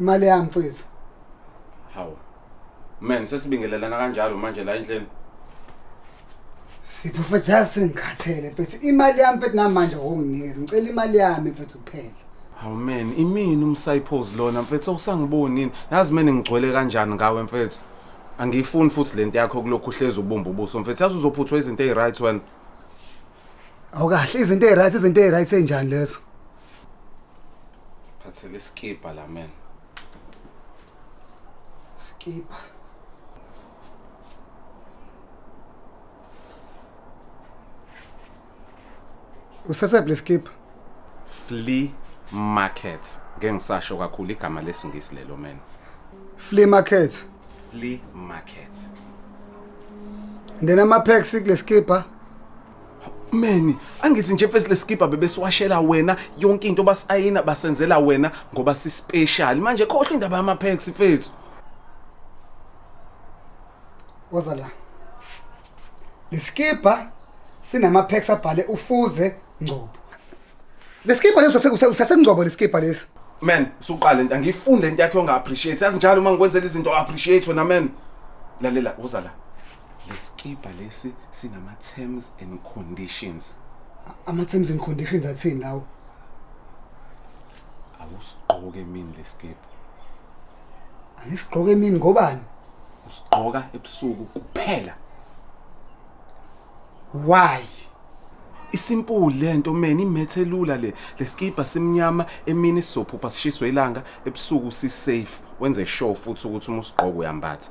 imali yami mfethu hawu man sesibingelelana kanjalo manje la endleni sipho mfethu yazi sengikhathele mfethu imali yami mfethu namanje awunginikezi ngicela imali yami mfethu kuphela hawu man imini umsayiphozi lona mfethu awusangibonini yazi mina ngigcwele kanjani ngawe mfethu angiyifuni futhi le nto yakho kulokhu uhlezi ubumba ubuso mfethu yazi uzophuthwa izinto eyi-right wena awukahle izinto eyi-right izinto eyi-right enjani lezo phathele isikibha la man sikibha usasephi lesikibha flea market ngeke ngisasho kakhulu igama lesingisi lelo man flea market flea market and then ama-packs kulesikibha meni angithi nje mfesi lesikibha bebesiwashela wena yonke into basayina basenzela wena ngoba sispecial manje khohlwa indaba yamapex mfethu woza la lesikibha sinamapex abhale ufuze ngcobo lesikibha leso usasengcobo lesikibha lesi man suqale nta ngifunde into yakho onga appreciate yazi njalo uma ngikwenzela izinto appreciate wena man lalela woza la lesikibha lesi sinama terms and conditions ama terms and conditions athini lawo awusigqoke emini lesikibha angisigqoke emini ngobani usigqoka ebusuku kuphela why isimple lento man imethe lula le lesikibha simnyama emini sizophupha sishiswe ilanga ebusuku si safe wenze sure futhi ukuthi uma usigqoka uyambatha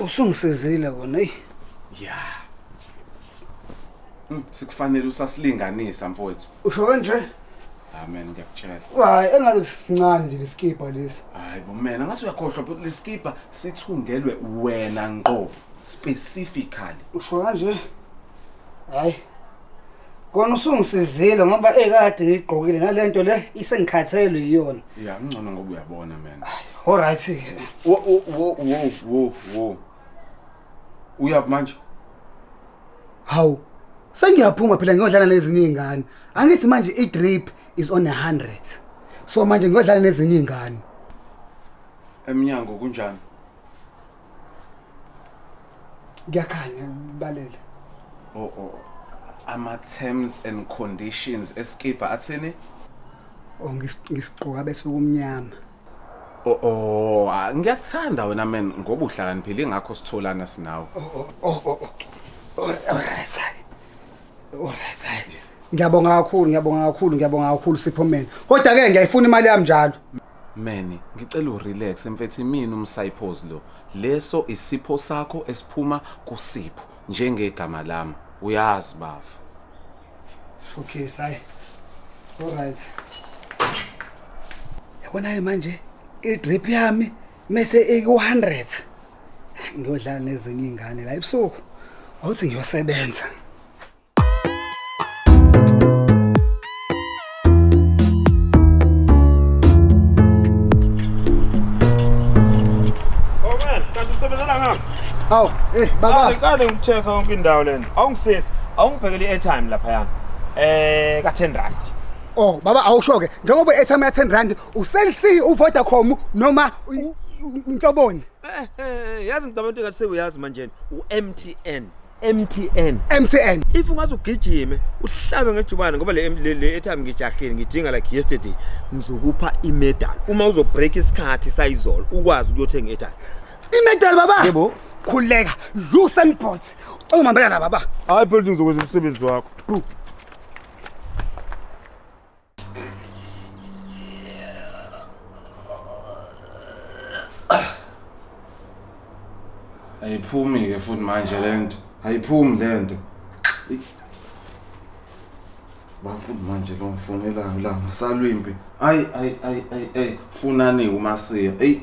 Usungisizile kona eyi. Ya. Mm, Sikufanele usasilinganisa mfowethu. Usho kanje? Amen ngiyakutshela. Hayi engathi sincane nje lesikibha lesi. Hayi bo mina ngathi uyakhohlwa but lesikibha sithungelwe wena ngqo specifically. Usho kanje? Hayi. kona usungisizile ngoba ekade ngigqokile nalento le isengikhathelwe iyona ya ngcono ngoba uyabona man all right ke wo wo wo wo wo uyaphi manje hawu sengiyaphuma phela ngiyodlala nezinye izingane angithi manje i drip is on 100 so manje ngiyodlala nezinye izingane emnyango kunjani kuyakhanya balele oh oh ama terms and conditions eskipa athini oh ngis- ngisiqoka bese kumnyama oh oh ah, ngiyakuthanda wena man ngoba uhlakaniphile ngakho sitholana sinawe oh oh oh oh, okay Alright, alright hayi. alright hayi. ngiyabonga kakhulu ngiyabonga kakhulu ngiyabonga kakhulu siphomeni kodwa ke ngiyayifuna imali yami njalo Meni, ngicela urelax mfethu imini umsayiphozi lo. Leso isipho sakho esiphuma kusipho njengegama lami. Uyazi bafo. Okay, sayi. All right. Yabona-ke manje i-drip yami mese iku-100 ngiyodlala nezinye iy'ngane la ebusuku wawuthi ngiyosebenza Awu, eh baba. Awukade ngicheck yonke indawo lena. Awungisisi, awungiphekeli i-airtime lapha yana. Eh ka 10 rand. Oh baba awusho ke njengoba i-airtime ya 10 rand uCell C uVodacom noma uNtoboni. Eh eh yazi ngicabanga ukuthi ngathi sewuyazi manje u-MTN. MTN MTN if ungaze ugijime uhlabe ngejubane ngoba le le etime ngijahile ngidinga like yesterday ngizokupha imedal uma uzo break isikhathi sayizolo ukwazi ukuyothenga etime imedal baba yebo khuleka loosen bolt ongimambela baba hayi building zokwenza umsebenzi wakho ayiphumi ke futhi manje lento ayiphumi lento bafuni manje lo mfonelayo la ngisalwimpi ayi ayi ayi ayi funani umasiya eyi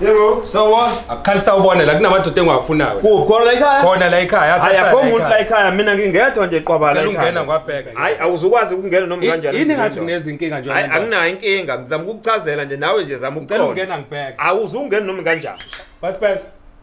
Yebo, sawubona. Akukhali sawubona la kunamadoda engiwafunayo. Kuphi khona la ekhaya? Khona la ekhaya athi Hayi akho umuntu la ekhaya mina ngingedwa nje qwaba la Cela ekhaya. ungena ngwabheka. nje. Hayi awuzukwazi ukungena noma kanjani. Yini ngathi unezinkinga nje. Hayi anginayo inkinga ngizama ukukuchazela nje nawe nje zama Cela ukuqonda. ungena ngibheke. Awuzungena noma kanjani. Basipenza.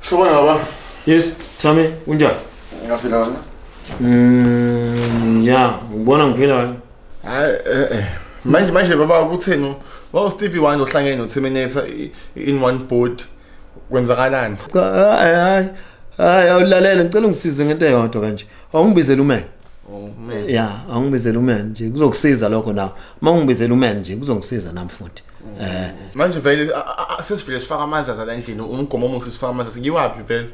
Sawubona baba. Yes, Thami, unjani? Ngaphila wena. Mm, ya, ubona ngiphila wena. Hayi eh eh. Manje manje baba ukutheni wa Stevie Wonder ohlangene no Terminator in one board kwenzakalani? Hayi hayi. Hayi awulalela ngicela ungisize ngento eyodwa kanje. Awungibizele umene. Umene. Ya, awungibizele umene nje kuzokusiza lokho nawe. Uma ungibizele umene nje kuzongisiza nami futhi. Eh manje vele sesivile sifaka amanzi azala endlini umgomo omuhle sifaka amanzi sikiwaphi vele?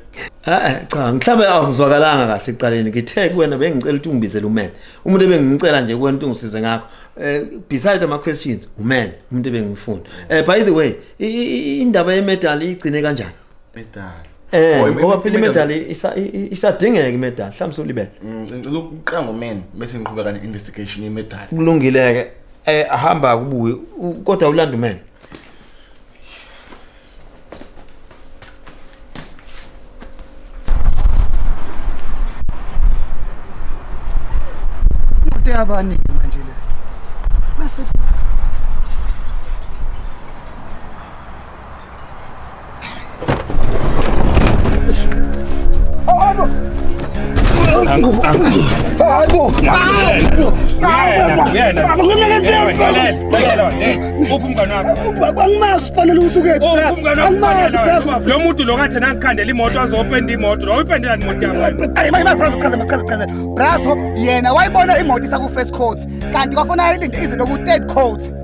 Eh cha mhlawumbe awuzwakalanga kahle iqaleni ngithe kuwena bengicela ukuthi ungibizele umen. Umuntu ebengicela nje kuwena ukuthi ungisize ngakho. Eh beside ama questions umen umuntu ebengimfuna. Eh by the way indaba ye medal igcine kanjani? Medali. Eh, Oh, im- ngoba im- phela imedal- imedali isa- i- i- isadingeka imedali, mhlawumbe solibele. Mm, Ngicela ukuqanga umeni bese ngiqhubeka ne-investigation yemedali. Kulungileke. Eh ahamba kubuye u- kodwa ulanda umene. imoto yabaningi manje le baseduze lo muntu lo kathi nangikhandela imoto azopenda imoto lo uyipendela imoto yabraso yena wayibona imoto isakufirst court kanti kwafanele ilinde ize beku-third court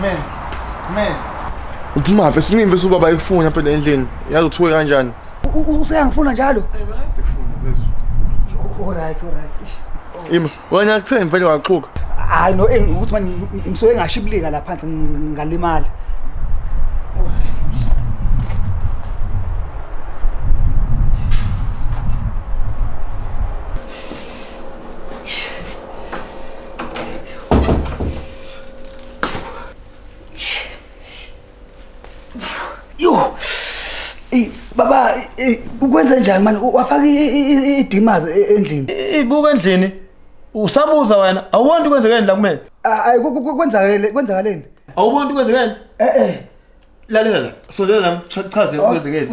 Man, man. Uphuma phi siningi bese ubaba ekufuna phela endlini. Yazi uthiwe kanjani? Useyangifuna njalo. Ayikade funa bese. All right, all right. Ish. Ima, wena akuthembi vele waqhuka. Hayi no eh, ukuthi manje ngisuke ngashibilika la phansi ng- ngalimala. All right. ish. Yo. Ey baba eh, ukwenze njani manje wafaka idimazi endlini. Ibuka endlini. Usabuza wena awuboni kwenzekeni la kumele? Ayi kwenzakele kwenzakaleni? Awuboni kwenzekeni? Eh eh. lalela la sondela la mchaze oh, kwenzekeni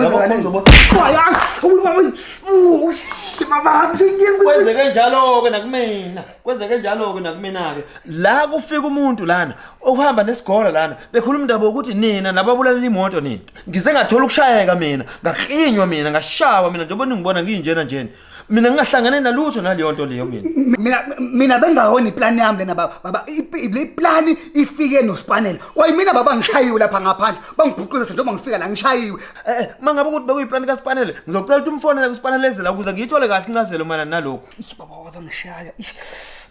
kwenzeke njalo-ke nakumina kwenzeke njalo-ke nakumina-ke la kufika umuntu lana okuhamba nesigora lana bekhuluma indaba yokuthi nina nababulalela imoto nina ngize ngathola ukushayeka mina ngaklinywa mina ngashawa mina njengoba ningibona nginjena njena mina ngingahlangane nalutho naleyo nto leyo mina mina mina bengahona iplan yami lena baba baba le plan ifike nospanela kwayimina baba ngishayiwe lapha ngaphandle bangibhuquza senje uma ngifika la ngishayiwe eh, eh mangabe ukuthi bekuyiplan kaSpanela ngizocela ukuthi umfonele kuSpanela ezela ukuze ngiyithole kahle incazelo mana nalokho ish baba waza ngishaya ish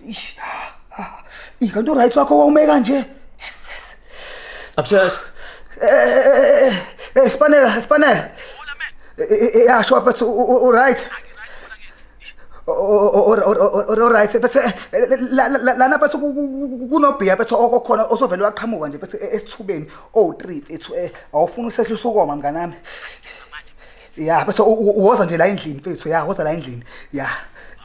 ish ah, ah, ikanti uright wakho wawume kanje Akusheshe. Eh, eh, Spanela, Spanela. Yeah, sure, but all right. Alright bese lana bathu kunobhiya bethu okokhona osovele waqhamuka nje bethu esithubeni o3 ethu awufuna usehlisa ukoma mnganami ya bese uwoza nje la endlini mfethu ya woza la endlini ya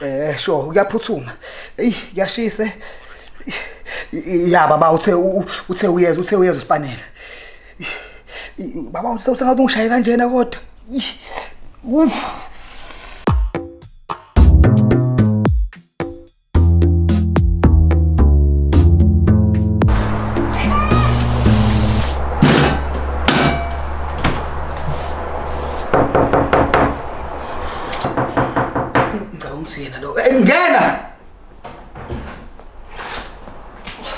eh sho kuyaphuthuma eyi kuyashise ya baba uthe uthe uyeza uthe uyeza usipanela baba uthe usengathi ungishaye kanjena kodwa Ngicabanga ukuthi yena lo. Eh, Ngena!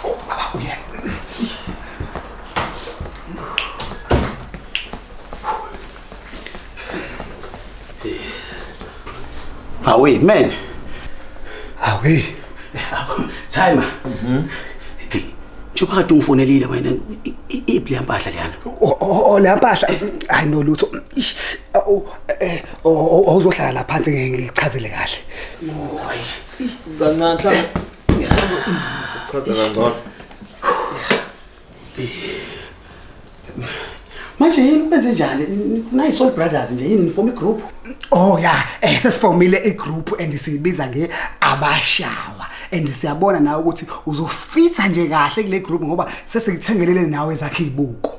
Oh, baba uyena. Awi man. Awi. Timer. Mhm. Njengoba kade ungifonelile wena iphi lempahla leyana? Oh lempahla hayi no lutho. Eh awuzohlala la phansi ngichazele kahle. Oh hayi. Kancane mhlawumbe. Chaza kangcono. manje yini kwenze njani nayi soul brothers nje yini nifoma igroup oh ya eh sesifomile igroup and siyibiza nge abashawa and siyabona nawe ukuthi uzofitha nje kahle kule group ngoba sesikuthengele nawe zakhe ibuko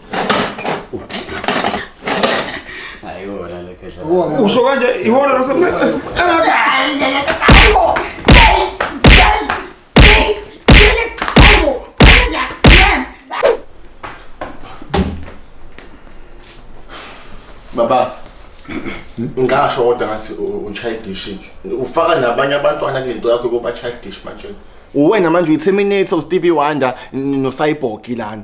Ayona le phesha. Usho kanje iwona lase. Baba ngasho kodwa ngathi uchildish ufaka nabanye abantwana kulento yakho yokuba childish manje uwena manje uyi-terminator ustevie wonder nocyborg lana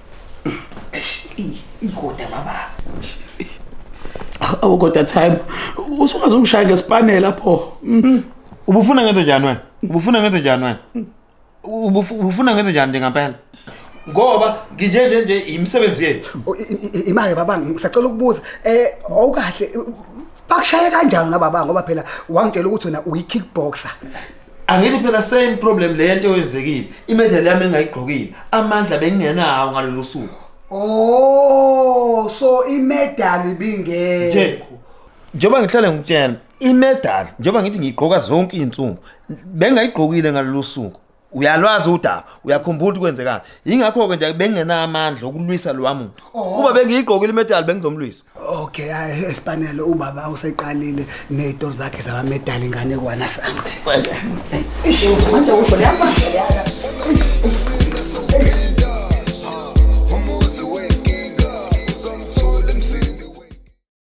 ikoda baba awu kodwa time usungaze ungishaya ngesipane lapho mm. ubufuna ngenze njani wena ubufuna ngenze njani wena ubufuna ngenze njani njengampela ngoba nginje nje nje imisebenzi yethu imake baba ngisacela ukubuza eh awukahle bakushaye kanjani ngababa ngoba phela wangitshela ukuthi wena uyi kickboxer angithi phela same problem le nto eyenzekile imedali yami engayigqokile amandla bengingenawo ngalolu suku oh so imedali bingekho njengoba ngihlale ngikutshela imedali njengoba ngithi ngiyigqoka zonke izinsuku bengayigqokile ngalolu suku uyalwazi udaba uyakhumbula ukuthi kwenzekani yingakho-ke nje bengingenamandla okulwisa lowa muntu oh. kuba bengiyigqokile imedali bengizomlwisa Okay, hayi esipanele ubaba useqalile nezitori zakhe zabamedali ingane kwana sami. Manje usho leyamanje yaka.